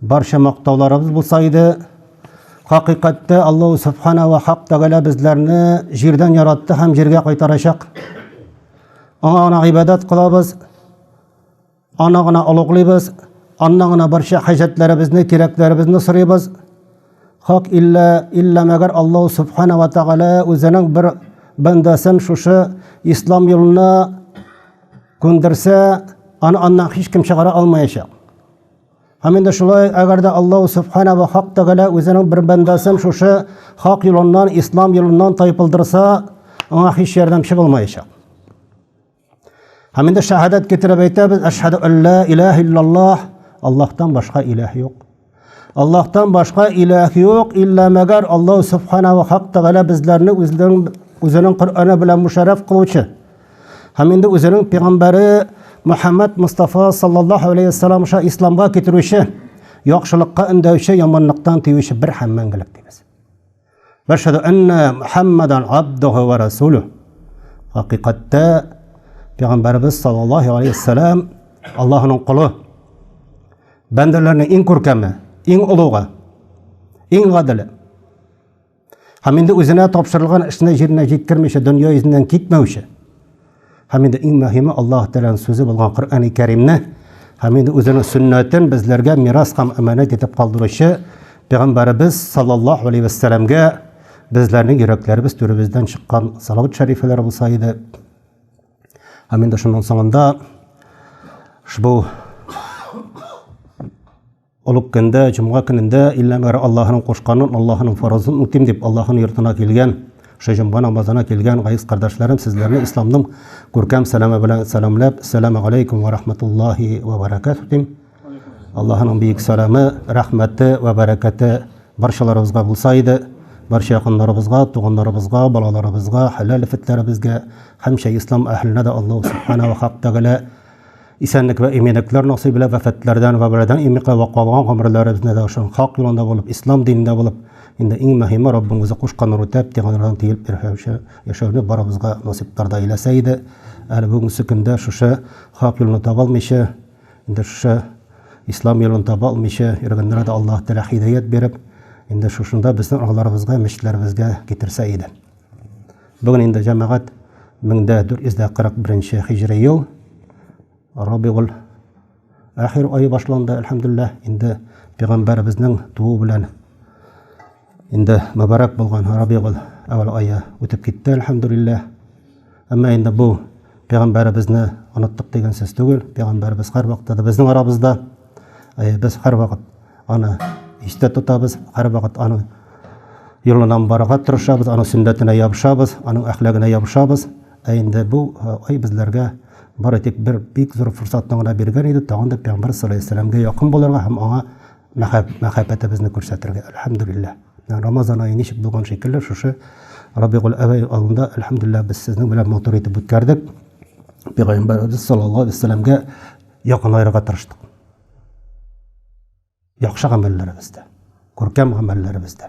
Барча мактауларыбыз булса иде. Хакыйкатьтә Аллаһу Субхана ва Хак Тәгалә безләрне җирдән яратты һәм җиргә кайтарачак. Аңа гына гыйбадәт кылабыз, аны гына олуглыйбыз, аннан гына барча хаҗәтләребезне, кирәкләребезне сорыйбыз. Хак иллә иллә мәгәр Аллаһу Субхана ва Тәгалә үзенең бер бәндәсен шушы ислам юлына күндерсә, аны аннан һичкем чыгара алмаячак. Һәм инде шулай, әгәр дә Аллаһу Субхана ва Хак Тәгалә үзенең бер бәндәсен шушы хак юлыннан, ислам юлыннан тайпылдырса, аңа һич ярдәмче булмаячак. Һәм инде шәһадәт китереп әйтәбез, әшһәду алла илаһ иллаллаһ, Аллаһтан башка илаһ юк. Аллаһтан башка илаһ юк, илла мәгәр Аллаһу Субхана ва Хак Тәгалә безләрне үзенең Коръәне белән мушәррәф кылучы. Һәм инде үзенең пәйгамбәре Мөхәммәд Мустафа саллаллаһу алейһи вәссәлам аша исламга китерүче, яхшылыкка өндәүче, яманлыктан тыючы бер һәм мәңгелек дибез. Вәшһәду анна Мухаммадан абдуху ва расулу. Хакыйкатьтә пәйгамбәребез саллаллаһу алейһи вәссәлам Аллаһның кулы. Бәндәләрнең иң күркәме, иң олугы, иң гадиле. Һәм инде үзенә тапшырылган эшне җиренә җиткермичә дөнья йөзеннән китмәүче. Һәм инде иң мөһиме Аллаһ Тәгаләнең сүзе булган Коръәни Кәримне һәм инде үзенең сөннәтен безләргә мирас һәм әманәт итеп калдыручы Пәйгамбәребез саллаллаһу алейһи ва сәлләмгә безләрнең йөрәкләребез түребездән чыккан салават шәрифәләр булса иде. Һәм инде шуның соңында шбу Олуг көндә, җомга көнендә илнә бары Аллаһының кушканын, Аллаһының фарызын үтим дип Аллаһының йортына килгән, шул җомга намазына килгән газиз кардәшләрем, сезләрне исламның күркәм сәламе белән сәламләп, Сәләмә галәйкүм ва рахматуллаһи ва баракатуһ дим. Аллаһының бөек сәламе, рәхмәте ва бәрәкәте барчаларыбызга булса иде. Барча якыннарыбызга, туганнарыбызга, балаларыбызга, хәләл нәфетләребезгә, һәмчә ислам әһеленә дә Аллаһу субхана ва хак тәгалә Исәнлек вә иминлекләр насыйп илә вәфәтләрдән вә бәладән имикә вә калган гомерләребезне дә шул хак юлында булып, ислам динендә булып, инде иң мөһиме Раббыңызы кушкан нур үтәп, тиганнардан тиелеп ирһәүче яшәүне барыбызга насыйплар да иләсә иде. Әле бүгенсе көндә шушы хак юлны таба алмыйча, инде шушы ислам юлын таба алмыйча йөргәннәргә дә Аллаһ Тәгалә һидаят биреп, инде шушында безнең араларыбызга, мәчетләребезгә китерсә иде. Бүген инде җәмәгать 1441 хиҗри ел Рабигуль ахир ае башланды, әлхәмдүлилләһ. Инде пәйгамбәребезнең туу белән инде мөбарәк булган Рабигуль әүвәл ае үтеп китте, әлхәмдүлилләһ. Әмма инде бу пәйгамбәребезне оныттык дигән сүз түгел. Пәйгамбәребез һәрвакытта да безнең арабызда. Э, без һәрвакыт аны истә тотабыз, һәрвакыт аның юлынан барырга тырышабыз, аның сөннәтенә ябышабыз, аның әхлагына ябышабыз. Ә инде бу э, ай безләргә бары тик бер бик зур форсатны гына биргән иде, тагын да пәйгамбәр саллаллаху алейһи якын булырга һәм аңа мәхәббәтебезне күрсәтергә. Әлхәмдүлилләһ. Рамазан ае ничек булган шикелле, шушы Рабигуль әвәй алында, әлхәмдулиллаһ, без сезнең белән матур итеп үткәрдек. Пәйгамбәребез саллаллаһу алейһи вәсәләмгә якынайырга тырыштык. Яхшы гамәлләребездә, күркәм гамәлләребездә.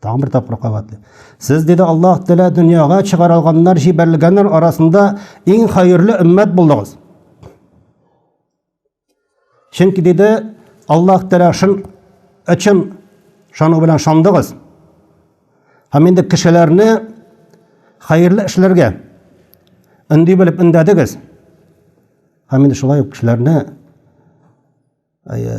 Тагын бер тапкыр кабатлый. Сез, диде Аллаһ Тәгалә, дөньяга чыгарылганнар, җибәрелгәннәр арасында иң хәерле өммәт булдыгыз. Чөнки диде Аллаһ Тәгалә шул өчен шуның белән шандыгыз. Һәм инде кешеләрне хәерле эшләргә өнди белеп өндәдегез. Һәм инде шулай ук кешеләрне әйе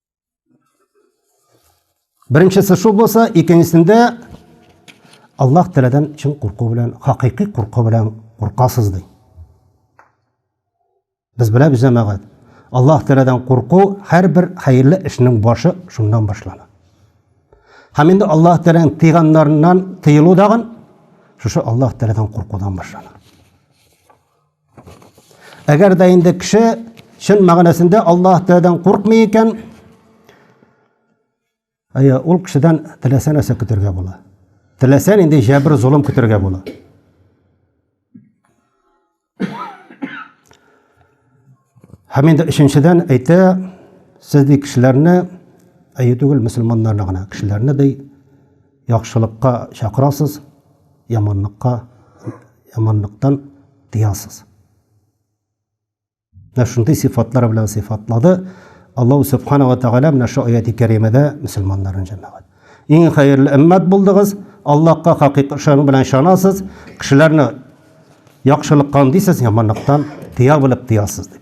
Беренчесе шул булса, икенчесендә Аллаһ Тәгаләдән чын курку белән, хакыйкый курку белән куркасыз ди. Без беләбез җәмәгать. Аллаһ Тәгаләдән курку һәрбер хәерле эшнең башы шуннан башлана. Һәм инде Аллаһ Тәгаләнең тыйганнарыннан тыелу дагын шушы Аллаһ Тәгаләдән куркудан башлана. Әгәр дә инде кеше чын мәгънәсендә Аллаһ Тәгаләдән куркмый икән, әйе, ул кешедән теләсә нәрсә көтәргә була. Теләсә нинди җәбер золым көтәргә була. Һәм инде өченчедән әйтә, сез ди кешеләрне әйе түгел, мөселманнарны гына, кешеләрне ди Яхшылыкка чакырасыз, яманлыкка, яманлыктан тыясыз. Менә шундый сыйфатлар белән сыйфатлады Аллаһу Субхана ва Тәгалә менә шу аяти кәримәдә мөселманнарын җәмәгать. Иң хәерле өммәт булдыгыз, Аллаһка хакыйк ышану белән ышанасыз, кешеләрне яхшылыкка үндисез, яманлыктан тыя белеп тыясыз дип.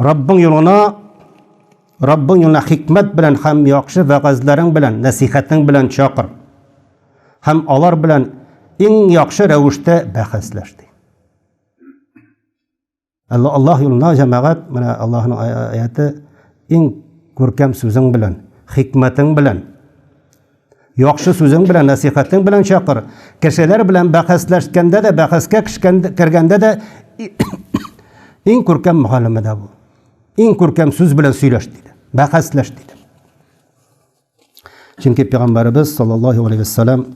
Раббың юлына Раббың юлына хикмәт белән һәм яхшы вәгазьләрең белән, нәсихәтең белән чакыр. Һәм алар белән иң яхшы рәвештә бәхәсләш ди. Аллаһ юлына җәмәгать, менә Аллаһның аяты иң күркәм сүзең белән, хикмәтең белән Яхшы сүзең белән, нәсыйхәтең белән чакыр. Кешеләр белән бәхәсләшкәндә дә, бәхәскә кергәндә дә иң күркәм мөхәлләмәдә бул. Иң күркәм сүз белән сөйләш диде. Бәхәсләш диде. Чөнки пәйгамбәребез саллаллаһу алейһи вәссәлам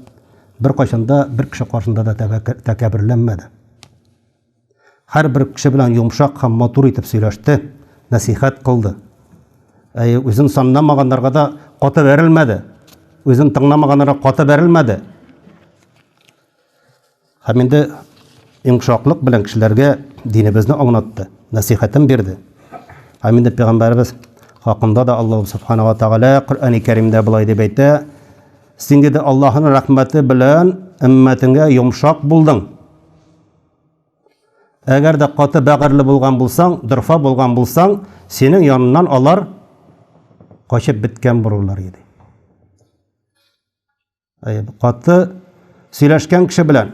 бер кайчанда бер кеше каршында да тәкәбберләнмәде. Һәрбер кеше белән йомшак һәм матур итеп сөйләште, нәсыйхәт кылды. Әйе, үзен санамаганнарга да каты бәрелмәде, үзен тыңламаганнарга каты бәрелмәде. Һәм инде йомшаклык белән кешеләргә динебезне аңлатты, нәсыйхәтен бирде. Һәм инде пәйгамбәребез хакында да Аллаһ субхана ва тәгалә Коръәни Кәримдә болай дип әйтә: "Син диде Аллаһның рәхмәте белән өммәтеңгә йомшак булдың". Әгәр дә каты бәгырьле булган булсаң, дорфа булган булсаң, синең яныннан алар качып беткән булырлар иде. Әй, каты сөйләшкән кеше белән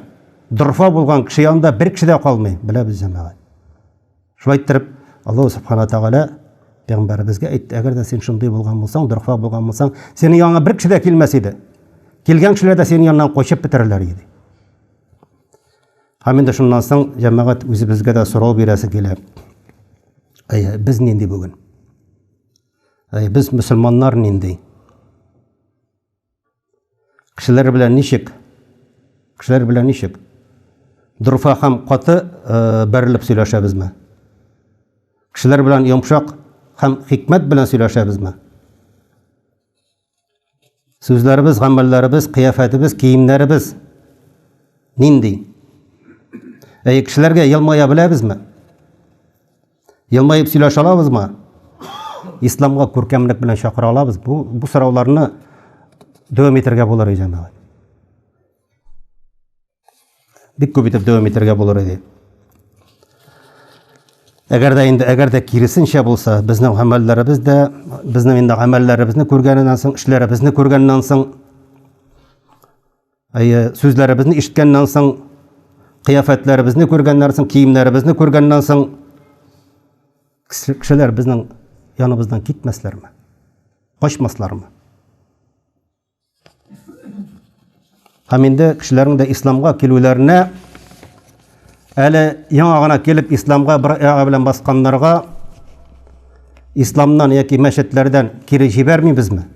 дорфа булган кеше янында бер кеше дә калмый, беләбез җәмәгать. Шулай иттереп, Аллаһу субхана тагала пәйгамбәребезгә әйтте, әгәр дә син шундый булган булсаң, дорфа булган булсаң, синең яныңа бер кеше дә килмәс иде. Килгән кешеләр дә синең яныңнан качып бетерләр иде. Һәм инде шуннан соң җәмәгать үзебезгә дә сорау бирәсе килә. Әйе, без нинди бүген? Әйе, без мөселманнар нинди? Кешеләр белән ничек? Кешеләр белән ничек? Дурфа һәм каты э, бәрелеп сөйләшәбезме? Кешеләр белән йомшак һәм хикмәт белән сөйләшәбезме? Сүзләребез, гамәлләребез, кыяфәтебез, киемнәребез нинди? Әйе, кешеләргә елмая беләбезме? Елмаеп сөйләшә алабызмы? Исламга күркәмлек белән чакыра алабыз? Бу, бу сорауларны дәвам итәргә булыр, җәмәгать. Бик күп итеп дәвам итәргә булыр иде. Әгәр дә инде әгәр дә киресенчә булса, безнең гамәлләребез дә, безнең инде гамәлләребезне күргәннән соң, эшләребезне күргәннән соң, әйе, сүзләребезне ишеткәннән соң, кыяфәтләребезне күргәннән соң, киемнәребезне күргәннән соң, кешеләр безнең яныбыздан китмәсләрме? Качмаслармы? Һәм инде кешеләрнең дә исламга килүләренә әле яңа гына килеп исламга бер аяк белән басканнарга исламнан яки мәчетләрдән кире җибәрмибезме?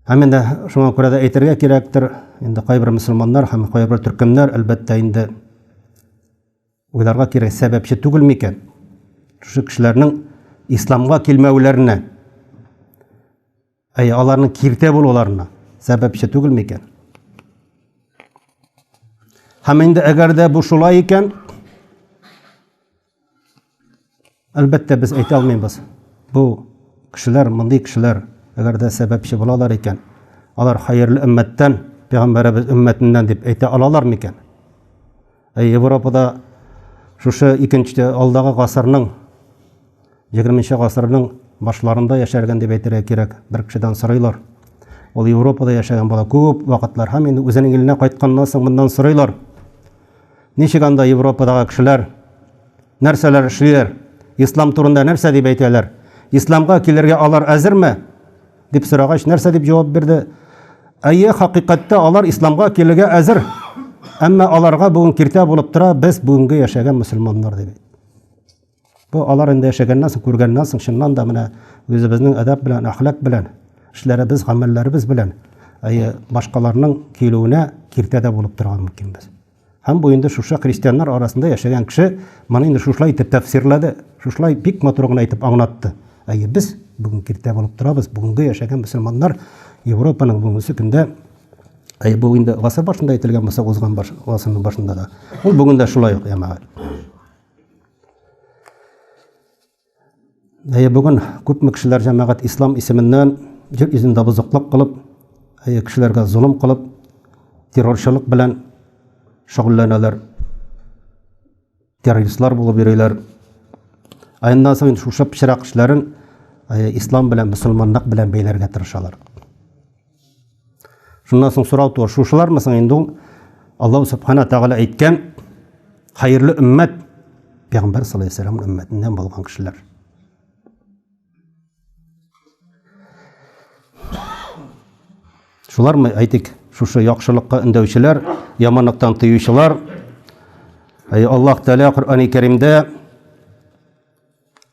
Һәм инде шуңа күрә дә әйтергә кирәктер, инде кайбер мөселманнар һәм кайбер төркемнәр әлбәттә инде Уйларга кирәк, сәбәпче түгел микән шушы кешеләрнең исламга килмәүләренә? Әй, аларның киртә булуларына сәбәпче түгел микән? Һәм инде әгәр дә бу шулай икән, Әлбәттә, без әйтә алмыйбыз, бу кешеләр, мондый кешеләр, әгәр дә сәбәпче булалар икән, алар хәерле өммәттән, пәйгамбәребез өммәтеннән дип әйтә алалар микән? Ә Европада шушы икенче, алдагы гасырның, егерменче гасырның башларында яшәргән дип әйтергә кирәк, бер кешедән сорыйлар. Ул Европада яшәгән була күп вакытлар һәм инде үзенең иленә кайтканнан соң моннан сорыйлар. Ничек анда Европадагы кешеләр, нәрсәләр эшлиләр, ислам турында нәрсә дип әйтәләр, исламга килергә алар әзерме? дип сорагач, нәрсә дип җавап бирде? Әйе, хакыйкатьтә алар исламга килергә әзер, әмма аларга бүген киртә булып тора без бүгенге яшәгән мөселманнар, дип әйтте. Бу алар инде яшәгәннән соң, күргәннән соң, чыннан да менә үзебезнең әдәп белән, әхлак белән, эшләребез, гамәлләребез белән әйе, башкаларның килүенә киртә дә булып торырга мөмкинбез. Һәм бу инде шушы христианнар арасында яшәгән кеше моны инде шушылай итеп тәфсирләде, шушылай бик матур гына итеп аңлатты. Әйе, без бүген киртә булып торабыз, бүгенге яшәгән мөселманнар Европаның бүгенге көндә Әйе, бу инде гасыр башында әйтелгән булса, узган гасырның башында да. Ул бүген дә шулай ук, ямәгать. Әйе, бүген күпме кешеләр җәмәгать ислам исеменнән җир йөзендә бозыклык кылып, әйе, кешеләргә золым кылып, террорчылык белән шөгыльләнәләр. Террористлар булып йөриләр. Аеннан соң шушы пычрак эшләрен ислам белән, мөселманлык белән бәйләргә тырышалар. Шуннан соң сорау туар, шушылармы соң инде ул Аллаһу субхана тагала әйткән хәерле өммәт пәйгамбәр саллаллаху алейһи вәсәлләм өммәтеннән булган кешеләр. Шулармы әйтик, шушы яхшылыкка өндәүчеләр, яманлыктан тыючылар. Аллаһ Тәгалә Коръәни Кәримдә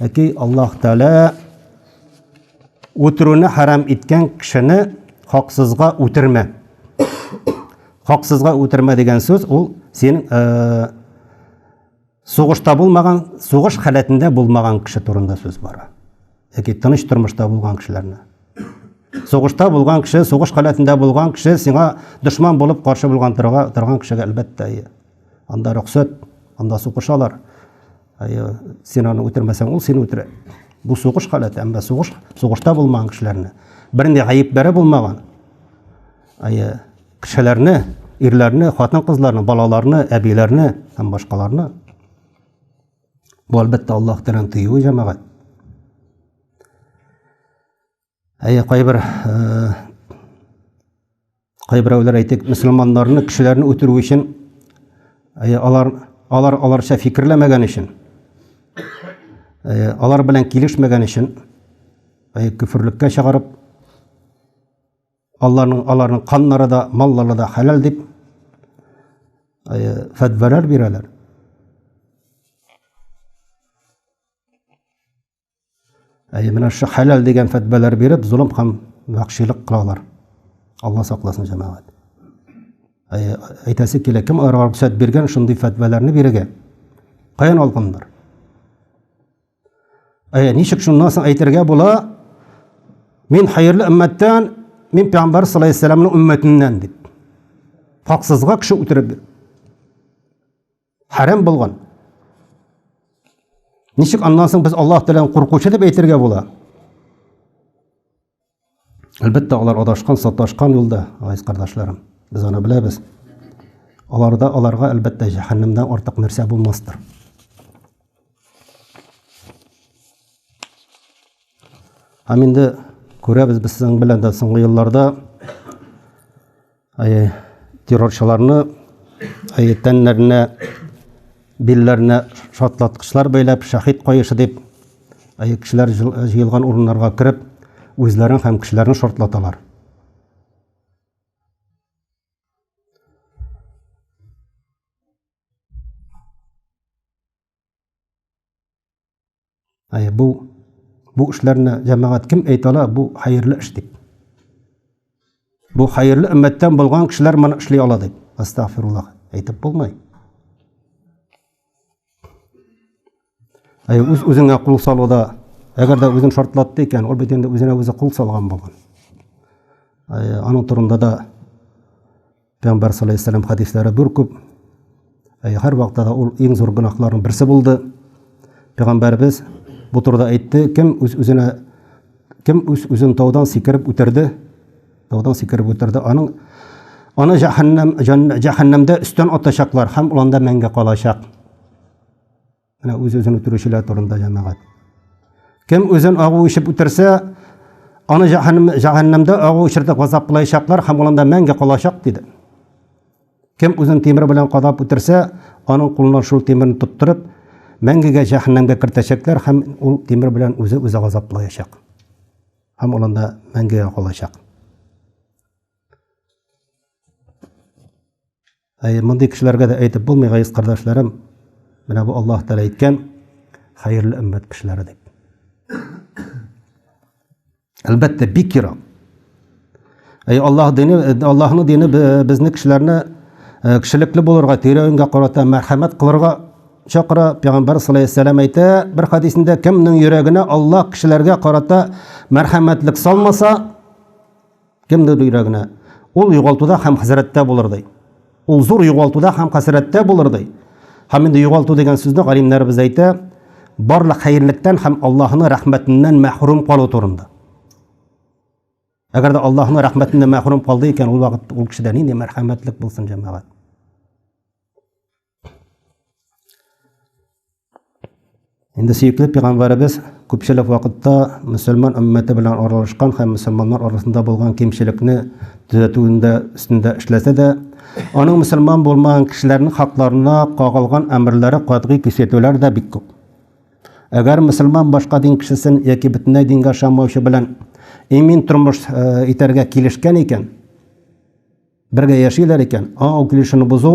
Әти Аллаһ Тәгалә үтерүне хәрам иткән кешене хаксызга үтермә. Хаксызга үтермә дигән сүз ул син сугышта булмаган, сугыш халәтендә булмаган кеше турында сүз бара. Яки тыныч тормышта булган кешеләрне. Сугышта булган кеше, сугыш халәтендә булган кеше сиңа дошман булып каршы булган торган кешегә әлбәттә анда рөхсәт, анда сугышалар. Син аны үтермәсәң, ул сине үтерә. Бу сугыш халәте, әмма сугыш, сугышта булмаган кешеләрне, бернинди гаепләре булмаган кешеләрне, ирләрне, хатын-кызларны, балаларны, әбиләрне һәм башкаларны бу әлбәттә Аллаһ тирән тыюы җәмәгать. Әйе, кайбер кайберәүләр әйтик, мөселманнарны, кешеләрне үтерү өчен әйе, алар алар аларча фикерләмәгән өчен, әйе, алар белән килешмәгән өчен, әйе, күферлеккә чыгарып, аларның аларның каннары да, маллары да хәләл дип, әйе, фәтвәләр бирәләр. Әй, менә шушы хәләл дигән фәтбәләр биреп, золым һәм вәхшилек кылалар. Алла сакласын, җәмәгать. Әй, әйтәсе килә, кем аларга рөхсәт биргән шундый фәтбәләрне бирергә? Каян алганнар? Әй, ничек шуннан соң әйтергә була? Мин хәерле өммәттән, мин пәйгамбәр саллаллаху алейһи ва сәлламның өммәтеннән дип. Хаксызга кеше үтереп Хәрәм булган. Ничек аннан соң без Аллаһ Тәгаләне куркучы дип әйтергә була? Әлбәттә, алар адашкан, саташкан юлда, газиз кардәшләрем. Без аны беләбез. Аларда аларга әлбәттә җәһәннәмдән артык нәрсә булмастыр. Һәм инде күрәбез без сезнең белән дә соңгы елларда Террорчыларны тәннәренә, билләренә шартлаткычлар бәйләп, шәһит каешы дип, кешеләр җыелган урыннарга кереп, үзләрен һәм кешеләрне шартлаталар. Әй, бу бу эшләрне җәмәгать кем әйтә ала, бу хәерле эш дип. Бу хәерле өммәттән булган кешеләр моны эшли ала дип. Астагфируллах әйтеп булмый. Әй, үз үзеңә кул салуда, әгәр дә үзен шартлатты икән, ул бит инде үзенә үзе кул салган булган. Әй, аның турында да Пәйгамбәр саллаллаһу алейһи ва хәдисләре зур күп. Ә һәр вакытта да ул иң зур гөнаһларның берсе булды. Пәйгамбәрбез бу турыда әйтте, кем үз үзенә кем үз үзен таудан сикереп үтерде, таудан сикереп үтерде, аның аны җәһәннәм җәһәннәмдә өстән атачаклар һәм ул анда мәңге калачак. Менә үз-үзен үтерүчеләр турында җәмәгать. Кем үзен агу ишеп үтерсә, аны җәһәннәмдә агу ишертеп газаплаячаклар һәм улында мәңге калачак, диде. Кем үзен тимер белән кадап үтерсә, аның кулына шул тимерне тоттырып, мәңгегә җәһәннәмгә кертәчәкләр һәм ул тимер белән үзе-үзе газаплаячак. Һәм улында мәңгегә калачак. Әй, мондый кешеләргә дә әйтеп булмый, гәйс кардәшләрем, менә бу Аллаһ Тәгалә әйткән хәерле өммәт кешеләре дип. Әлбәттә, бик ерак. Әй, Аллаһ дине, Аллаһның дине безне кешеләрне Э, кешелекле булырга, тирәнгә карата мәрхәмәт кылырга чакыра. Пәйгамбәр саллаллаху алейһи вәсәлләм әйтә, бер хадисендә кемнең йөрәгенә Аллаһ кешеләргә карата мәрхәмәтлек салмаса, Кемдер йөрәгенә. Ул югалтуда һәм хәсрәттә булыр, ди. Ул зур югалтуда һәм хәсрәттә булыр, ди. Һәм инде югалту дигән сүзне галимнәребез әйтә, барлык хәерлектән һәм Аллаһының рәхмәтеннән мәхрүм калу турында. Әгәр дә Аллаһның рәхмәтеннән мәхрүм калды икән, ул вакыт ул кешедә нинди мәрхәмәтлек булсын, җәмәгать. Инде сөекле пигамбарыбыз күпчелек вакытта мөселман өммәте белән аралашкан һәм мөселманнар арасында булган кимчелекне төзәтүендә өстендә эшләсә дә, аның мөселман булмаган кешеләрнең хакларына кагылган әмерләре катгый көчәйтүләр дә бик күп. Әгәр мөселман башка дин кешесен яки бөтенләй дингә ышанмаучы белән имин тормыш итәргә килешкән икән, Бергә яшиләр икән, аңа килешүне бозу,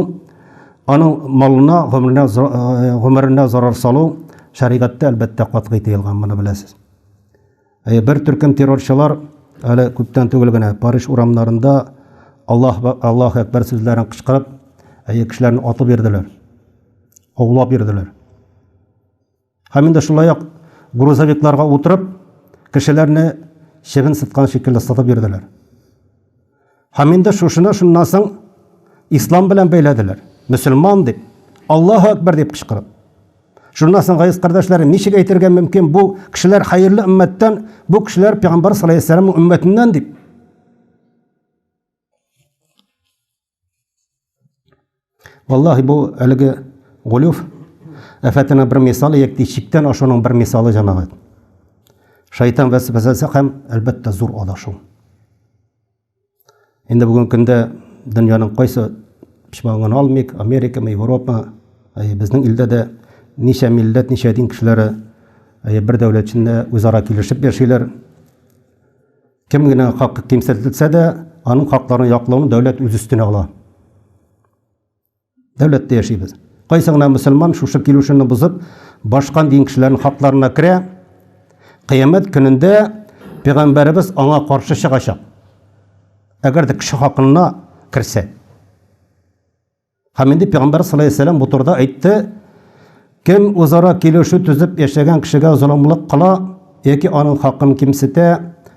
аның малына, гомеренә, э, гомеренә зарар салу шәригатьтә әлбәттә катгый тыелган, моны беләсез. Э, бер төркем террорчылар әле күптән түгел генә Париж урамнарында Аллаһ Аллаһ әкбәр сүзләрен кычкырып, әйе кешеләрне атып йөрделәр. Аулап йөрделәр. Һәм инде шулай ук грузовикларга утырып, кешеләрне чебен сыткан шикелле сытып йөрделәр. Һәм инде шушыны шуннан соң ислам белән бәйләделәр. Мөселман дип, Аллаһу әкбәр дип кычкырып. Шуннан соң гайз кардәшләрем, ничек әйтергә мөмкин бу кешеләр хәерле өммәттән, бу кешеләр пәйгамбәр саллаллаһу алейһи ва сәлләмнең өммәтеннән дип. Валлаһи бу әлеге гулюф афәтенә бер мисал ек ди, чиктән ашуның бер мисалы җәмәгать. Шайтан вәсвәсәсе һәм әлбәттә зур адашу. Инде бүген көндә дөньяның кайсы почмагын алмыйк, Америка, Европа, әй, безнең илдә дә ничә милләт, ничә дин кешеләре әй, бер дәүләт эчендә үзара килешеп яшиләр. Кем генә хакы кимсетелсә дә, аның хакларын яклауны дәүләт үз өстенә ала. Дәүләттә яшибез. Кайсы гына мөселман шушы килешүне бозып, башка дин кешеләренең хакларына керә, кыямәт көнендә пәйгамбәребез аңа каршы чыгачак. Әгәр дә кеше хакына керсә. Һәм инде пәйгамбәр саллаллаһу алейһи ва бу турыда әйтте, Кем үзара килешү төзеп яшәгән кешегә золымлык кыла яки аның хакын кимсетә,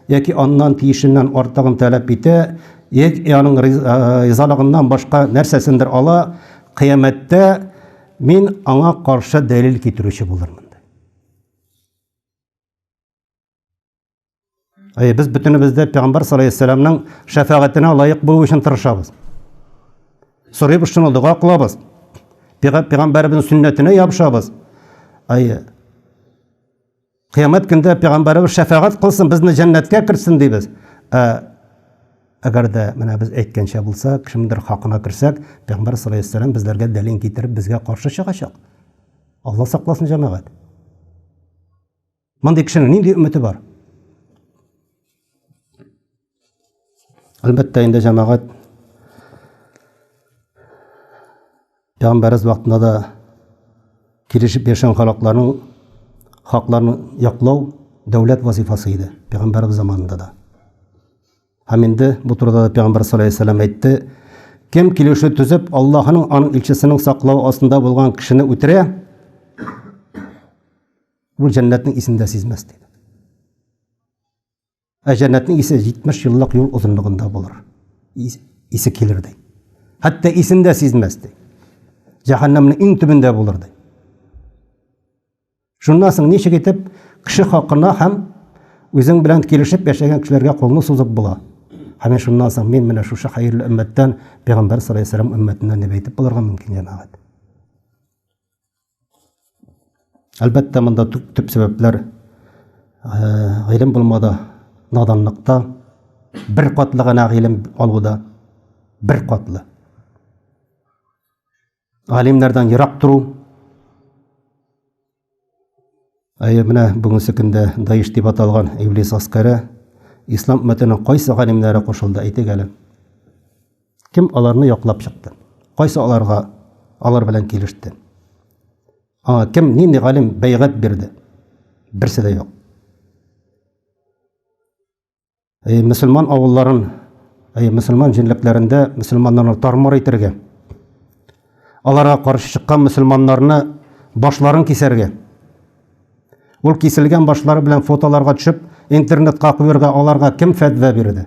яки аннан тиешеннән артыгын таләп итә, яки аның ризалыгыннан башка нәрсәсендер ала, кыямәттә мин аңа каршы дәлил китерүче булырмын. Әй, без бөтенебез дә Пәйгамбәр саллаллаху шәфәгатенә лаек булу өчен тырышабыз. Сорыйбыз шуны, дога кылабыз. Пәйгамбәребезнең сөннәтенә ябышабыз. Әй, Кыямәт көндә пәйгамбәребез шәфәгать кылсын, безне җәннәткә кертсен дибез. Ә әгәр дә менә без әйткәнчә булса, кемдер хакына керсәк, пәйгамбәр саллаллаху алейһи ва безләргә дәлил китереп, безгә каршы чыгачак. Алла сакласын җәмәгать. Мондый кешенең нинди өмете бар? Әлбәттә, инде җәмәгать Пәйгамбәрбез вакытында да килешеп яшәгән халыкларның хакларын яклау дәүләт вазифасы иде, Пәйгамбәрбез заманында да. Һәм инде бу турыда да Пәйгамбәр саллаллаху алейһи вәсәлләм әйтте, кем килешү төзеп, Аллаһның аның илчесенең саклау астында булган кешене үтерә, Ул җәннәтнең исен дә сизмәс диде. Ә җәннәтнең исе 70 еллык юл озынлыгында булыр. Исе килер ди. Хәтта исен дә сизмәс ди. Җәһәннәмнең иң төбендә булыр ди. Шуннан соң ничек итеп кеше хакына һәм үзең белән килешеп яшәгән кешеләргә кулны сузып була? Һәм шуннан соң мин менә шушы хәерле өммәттән, пәйгамбәр саллаллаһу алейһи ва сәлләм өммәтеннән дип әйтеп булырга мөмкин, җәмәгать. Әлбәттә, монда төп, төп сәбәпләр гыйлем э, булмада, наданлыкта, бер катлы гына гыйлем алуда, бер катлы. Алимнардан ерак тору. Әйе, менә бүгенге көндә Даиш дип аталган Иблис аскары ислам өммәтенең кайсы галимнәре кушылды, әйтегәле. Кем аларны яклап чыкты? Кайсы аларга алар белән килеште? Аңа кем нинди галим бәйгать бирде? Берсе дә юк. Әй, мөселман авылларын, әй, мөселман җинлекләрендә мөселманнарны тармар итәргә, аларга каршы чыккан мөселманнарны башларын кисәргә, ул киселгән башлары белән фотоларга төшеп, интернетка куярга аларга кем фәтва бирде?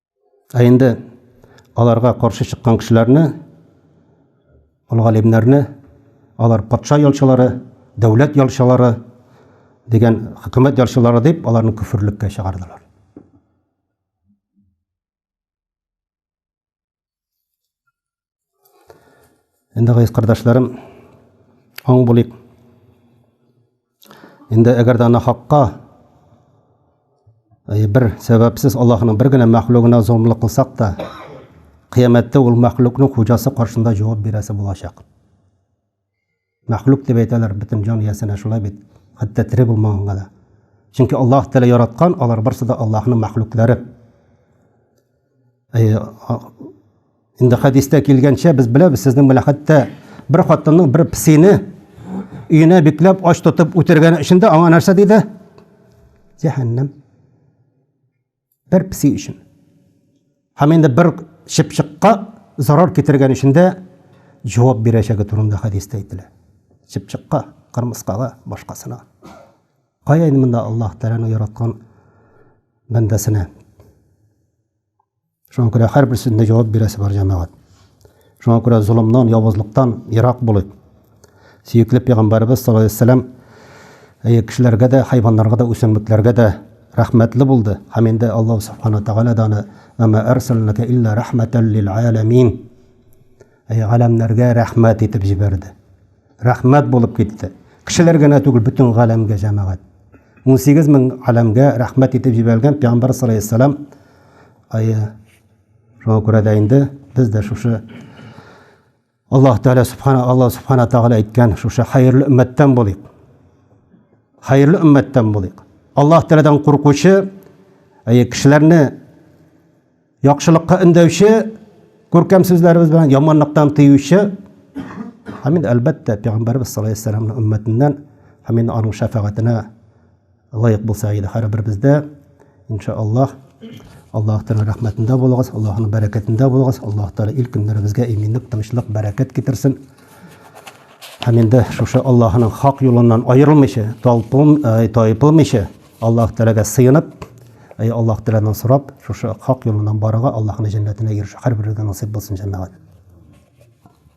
Ә инде аларга каршы чыккан кешеләрне, ул галимнәрне, алар патша ялчылары, дәүләт ялчылары дигән хөкүмәт ялчылары дип аларны күферлеккә чыгардылар. Инде гайз кардәшләрем, аң булыйк. Инде әгәр дә нахакка э, бер сәбәпсез Аллаһның бер генә мәхлугына золымлык кылсак та, кыямәттә ул мәхлукның хуҗасы каршында җавап бирәсе булачак. Мәхлук дип әйтәләр бөтен җан иясенә шулай бит, хәтта тере булмаганга да. Чөнки Аллаһ Тәгалә яраткан, алар барысы да Аллаһның мәхлуклары. Инде хәдистә килгәнчә без беләбез, сезнең белән хәтта бер хатынның бер псине өенә бикләп ач тотып үтергәне өчен дә аңа нәрсә диде? Җәһәннәм. бер песи өчен һәм инде бер чыпчыкка зарар китергән өчен дә җавап бирәчәге турында хәдистә әйтелә. Чыпчыкка, кырмыскага, башкасына. Кая инде монда Аллаһ Тәгаләнең яраткан бәндәсенә? Шуңа күрә һәрберсендә җавап бирәсе бар җәмәгать. Шуңа күрә золымнан, явызлыктан ерак булыйк. Сөекле пәйгамбәребез саллаллаһу алейһи вәсәлләм әйе кешеләргә дә, хайваннарга да, үсемлекләргә дә рәхмәтле булды. Һәм инде Аллаһ субхана ва тәгалә дә аны Мама арсалнака илля рахматал лил аламин. Әйе, галәмнәргә рәхмәт итеп җибәрде. Рәхмәт булып китте. Кешеләр генә түгел, бөтен галәмгә җәмәгать. 18 мең галәмгә рәхмәт итеп җибәргән пәйгамбәр саллаллаһу алейһи вәсәлләм. Әйе. Шуңа күрә дә инде без дә шушы Аллаһ Тәгалә Субхана Аллаһ Субхана Тәгалә әйткән шушы хәерле өммәттән булыйк. Хәерле өммәттән булыйк. Аллаһ Тәгаләдән куркучы, әйе, кешеләрне яхшылыкка өндәүче күркәм сүзләребез белән яманлыктан тыючы Һәм инде әлбәттә, пәйгамбәрбез саллаллаһу алейһи ва сәлләмнең өммәтеннән һәм инде аның шәфәгатенә Лаек булса иде һәрберебездә. Инша Аллаһ. Аллаһ Тәгалә рәхмәтендә булыгыз, Аллаһның бәрәкәтендә булыгыз. Аллаһ Тәгалә ил көннәребезгә иминлек, тынычлык, бәрәкәт китерсен. Һәм инде шушы Аллаһның хак юлыннан аерылмыйча, талпым, э, тайпылмыйча, Аллаһ Тәгаләгә сыенып, Әй Аллаһ Тәгаләдән сорап, шушы хак юлыннан барырга, Аллаһның җәннәтенә ирешә. Һәрберебезгә насыйп булсын җәмәгать.